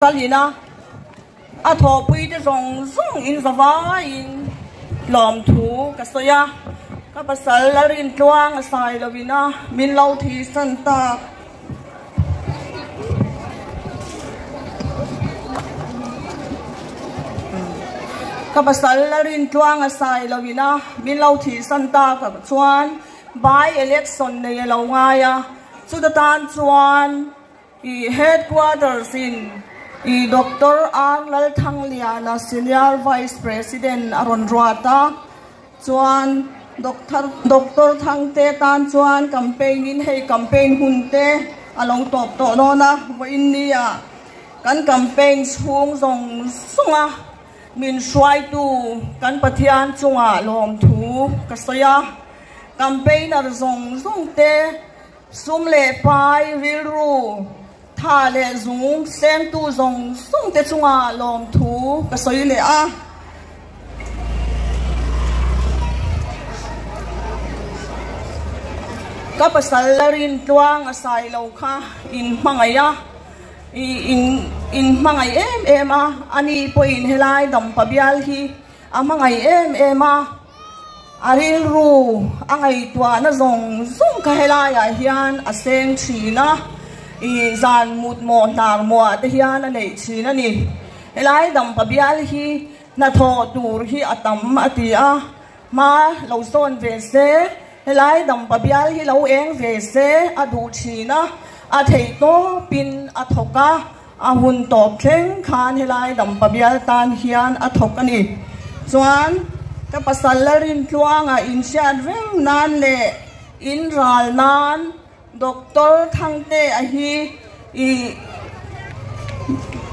Kalina a thawhpui te zawng zawng in zavai in tlawm thu ka sawi a, ka pasal a rin tluang a sai lo in a min lo thi san tak. Ka pasal a rin tluang a sai lo in a min lo thi san tak ang chuan by election nei a lo ngai a, chuta tan chuan I Headquarters in I Doctor Ang Lalthangliana Senior Vice President a rawn ruat a, chuan Doctor Thangte tan chuan campaign in hei campaign hun te a lo tawp tawh dawn a, vawiinni a kan campaign chhung zawng zawng a min hruaitu kan Pathian chungah lawmthu ka sawi a, campaigner zawng zawng te, Sum leh pai, rilru, tha leh zung tlengtu zawng zawng te chunga lawmthu ka sawi leh a. Ka pasal la rin tluang a sai lo kha in hmangaih a, in hmangaih em em a, ani pawhin helai dampa bial hi a hmangaih em em a. A rilru a ngaihtuahna zawng zawng kha helaiah hian a seng thin a, i zan mutmawh hnar muah te hian a neih thin a ni. Helai dam pa bial hi hnathawh tur hi a tam a ti a, hma lo sawn ve se, helai dam pa bial hi lo eng ve se a duh thin a, a theihtawpin a thawk a. A hun tawp thleng khan helai dam pa bial tan hian a thawk a ni. Chuan ka pasal la rin tluanga inhriat reng nan leh in ral nan Doctor Thangte a hi i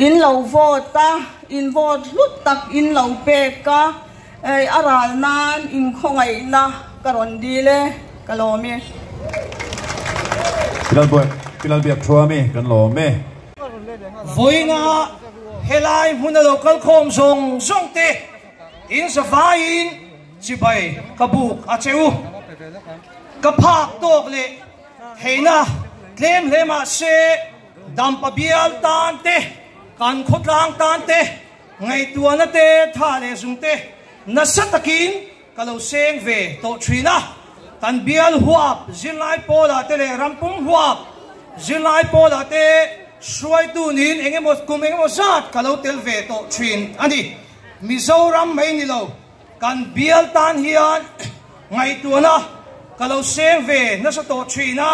in lo vote a, in vote hlut tak in lo pek a. Ei a ral nan in khawngaih na ka rawn dil e ka lawm e. Pilalbuak Pilalbiak thua mi kan lawm e. Vawiinga helai hmuna lo kal khawm zawng zawng te in zavai in chibai ka buk a che u. Ka phak tawk leh theihna tlem hle mah se dam pabial tan te kan khawtlang tan te Ngaihtuahna te tha leh zum te nasa takin ka lo seng ve tawh thin a, kan bial huap zirlai pawlah te leh ram pum huap zirlai pawlah te hruaitu niin eng emaw kum eng emaw zat ka lo tel ve tawh thin a ni. Mizoram mai ni lo kan bial tan hian ngaihtuahna ka lo seng ve nasa tawh thin a,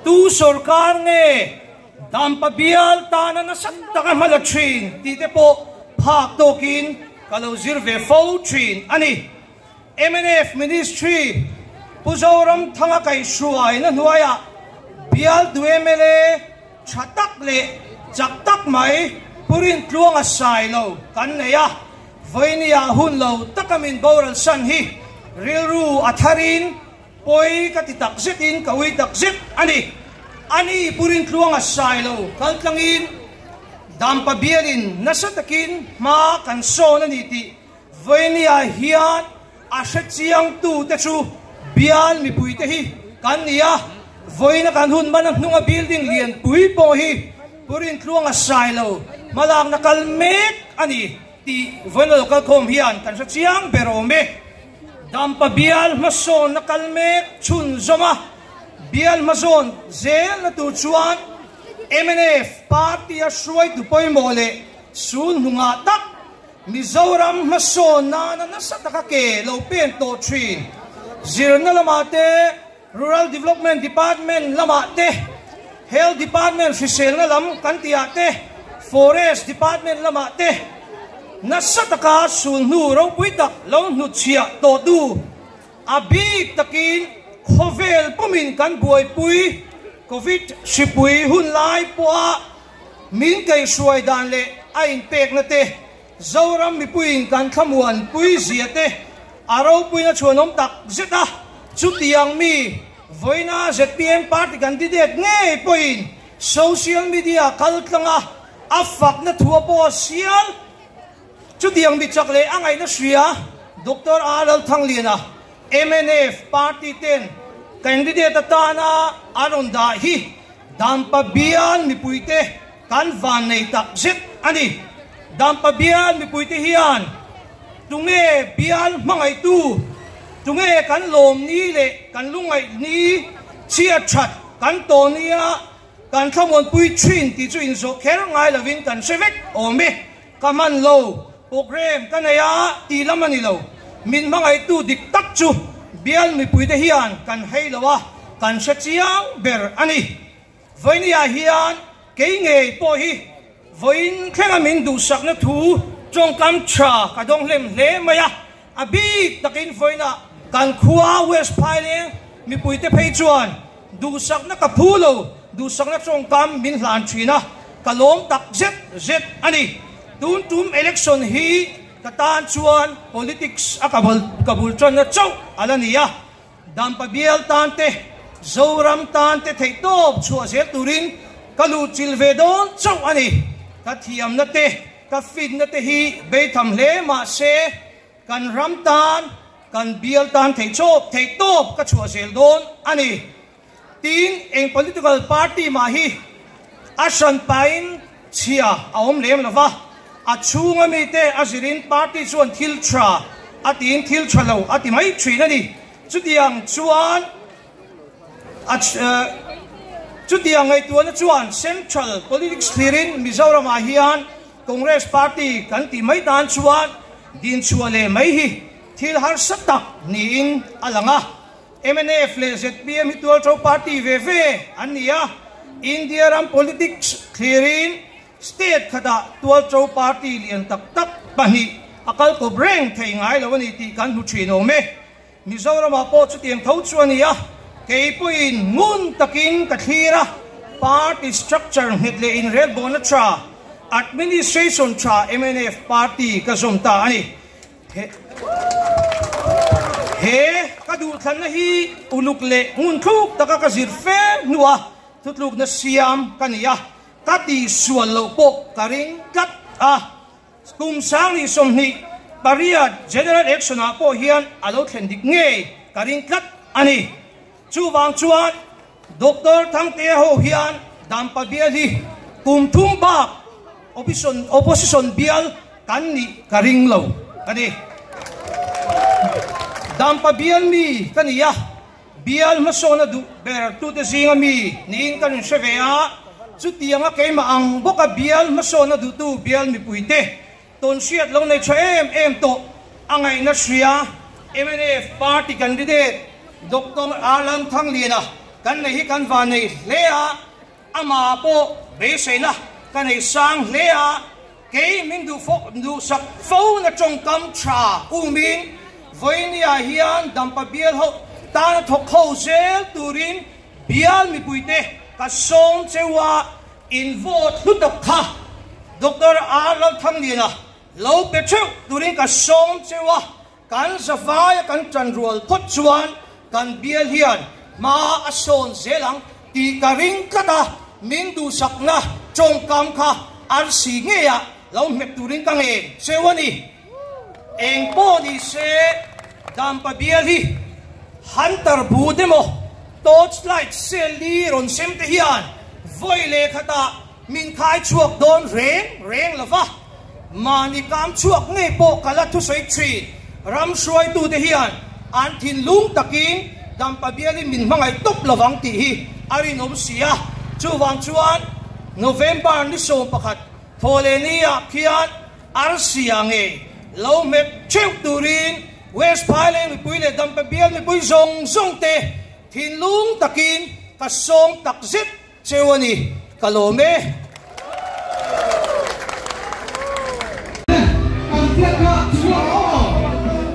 tu sorkar nge? Dampa bial tana nasat taka hma la thin tih te pawh phak tawkin ka lo zir ve fo thin a ni. Mnf Ministry Pu Zoramthanga kaihhruai na hnuaiah bial du mla tha tak leh chak tak mai Purin Tluanga sai lo kan nei a, vawinia hun lo taka min boral san hi rilru a tharin, Pawi ka ti tak zet in ka ui tak zet a ni. Ani burin tluang a sai lo kal tlang in Dampa bial in nasa tak in hma kan sawn a ni tih Vawini-a hian a hre chiang tu te chu bial mipui te hi kan ni a. Vawina kan hun man a hnung a building lian pui pawh hi burin tluang a sai lo hma lak na kal mek a ni tih Vawina lo kal khawm hian kan hre chiang ber awm e. Dampa bialhma sawn a kal mek chhun zawm a, bialhma zawn zel na tur chuan mnf party a hruaitu pawimawh leh Sun hnungha tak Mizoram hmasawn nana nasa taka ke lo pen tawh thin, zirna lamah te, Rural Development Department lamah te, Health Department hriselna lam kan tihah te, Forest Department lamah te nasa taka sul hnu ropui tak lo hnuchhia tawh tu a bik takin khawvel pumin kan buaipui Covid hripui hun lai pawha min kei hruai dan leh a inpekna te Zoram mipuiin kan thlamuan puizia te a ropuin a chhuanawm tak zet a, chutiang mi vawiina zpm party candidate ngei pawhin social media kaltlanga a fakna thua pawh a sial. Chutiang mi chak leh a ngaihna hria Doctor Aa Lalthangliana mnf party ten candidate atana a rawn dah hi dan pabian mipuite, Kan vannei tak zet a ni. Dampa bial mipuite hian tunge bial hmangaihtu, tunge kan lawm ni leh kan lungaih ni chhiat that kan tawh nia kan thlamuanpui thin tih chu inzawh kher ngai lovin kan hre vek awm e. Ka hman lo, programme ka nei a tih lam a ni lo. Min hmangaihtu dik tak chu bial mipuite hian kan hei lo a, kan hre chiang ber a ni. Vawinia hian kei ngei pawh hi vawiin thlenga min duhsakna thu tawngkam tha ka dawnghlem hle mai a, a bik takin vawiina kan khua West Phaileng mipuite phei chuan duhsakna ka phu lo duhsakna tawngkam min hlan thin a, ka lawm tak zet zet a ni. Tun tum election hi ka tan chuan politics a ka bul tanna chauh a la ni a, Dampa bial tan te, Zoram tan te theihtawp chhuah zel turin ka luhchilh ve dawn chauh a ni. Ka thiamna te, ka fitna te hi beitham hle mahse, kan ram tan, kan bial tan theichawp theihtawp ka chhuah zel dawn a ni. Tiin eng political party mah hi a hran pahin chhia a awm lem lo va, a chhunga mite a zirin party chuan thil tha a tiin thil tha lo a ti mai thin a ni. Chutiang chuan Chutiang ngaihtuahna chuan central politics thirin Mizoramah hian Congress party kan tih mai tan chuan dinchhuah leh mai hi thil harsa tak niin a lang a. MNF leh zpm hi tual tho party ve ve an ni a, India ram politics thlirin state khatah tual tho party lian tak tak pahnih a kal kawp reng thei ngai lo a ni tih kan hmu thin awm e. Mizoramah pawh chutiang tho chu a ni a, kei pawhin ngun takin ka thlir a, party structure nghet leh inrelbawlna tha, administration tha MNF party ka zawm ta a ni. He ka duhthlanna hi uluk leh ngunthluk taka ka zir fe hnu a thutlukna siam ka ni a, ka ti sual loh pawh ka ring tlat a. Kum Sangri sawmhnih pariat General Election-ah pawh hian a lo thlen dik ngei ka ring tlat a ni. Chuvang chuan Doctor Thangtea ho hian Dan Pa Bial hi kum thum bak opposition opposition bial kan nih ka ring lo ka ni. Dan Pa Bial mi ka ni a, bial hmasawn a duh ber tute zinga mi niin ka rin hre ve a. Chutianga keimah ang bawka bial hmasawn a duhtu bial mipuite, Tawn hriat lo nei tha em em tawh a ngaihna hria mnf party candidate Doctor Alan Thangliana kan nei hi kan va nei hle a, ama pawh beiseina ka nei sang hle a, kei min duhfo duhsak fo na tawngkam tha umin Vawinia hian dampa bial ho tana thawk ho zel turin bial mipuite ka sawm cheu a, In vote hlu tak kha Doctor a Lalthanglina lo pe theuh turin ka sawm cheu a, kan zavaia kan tan rual phawt chuan kan bial hian hma a sawn zel ang tih ka ring tlat a, min duhsakna tawngkam kha arsi ngeiah lo hmet turin ka ngen cheu a ni. Eng pawh ni se, dampa bial hi hunter bute maw, torchlight cell ni rawn sem te hian vawi leh khatah min khai chhuak dawn reng reng lo va, mahni kam chhuak ngei pawh ka la thusawi thin. Ram hruaitu te hian an thinlung takin dampa bial hi min hmangaih tawp lo vang tih hi a rinawm si a, chuvang chuan November ni sawm pakhat thawhleh ni ah khian, Arsi ah nge lo hmet theuh turin West Phailei mipui leh Dampe bial mipui zawng zawng te thinlung takin ka sawm takzet cheu a ni. Ka lawm e. Kan biakna chhuak awm ang.